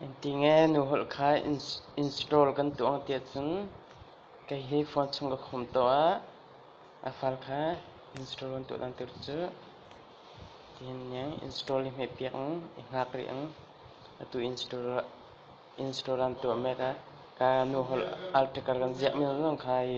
Engtinge nu holh kha install kan tuah ang ti ahcun kei hi phone chung ka khawm tuah. A file kha install kan tuah dan tur cu tihin niang install i hmehpiak ang, i hngak rih ang. Atu install aan tuah mek a, ka nu holh article kan ziah mi zong kha hi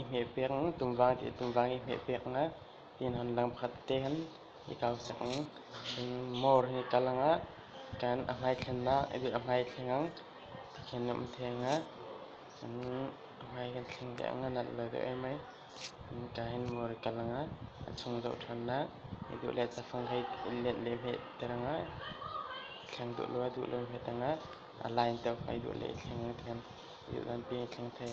i hmeh pek in tungvang ti tungvang i hmeh pek nak tiin hon lang pakhat te khan i kau sak ning cun mawr hi kalang ah kan a hmai thlen ah a bit a hmai thleng ang tikhin a um theng ah cun a hmai kan thleng deuh ang a nat lo deuh ai mai cun ka hin mawr hi kalang ah a chung deuh ṭhan nak i duh le cafang hei let le hmeh terang ah i thleng duh lo a duh lo hmeh tang ah a line teo kha i duh le i thleng ang tikhan i duh lan pi i thleng thei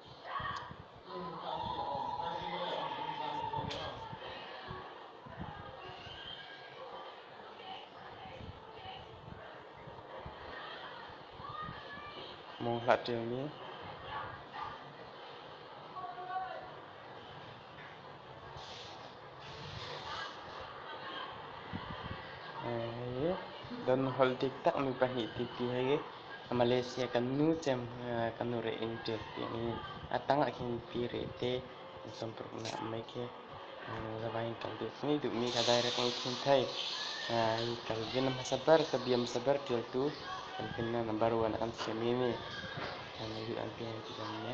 Mung hlah ṭialmi. Don holh diktak mi pahnih tipi hi Malaysia kan nu cem kan nu reh in ṭial tiang in a tang ah khin pi reh te in sampruk nak mai khi zavain kan duh ngi duh mi ka direct ngi khin thai kan vin hmasa ber ka biam saber ṭialtu kan pin na number one an siam mi kan yu an pi an ti dam ne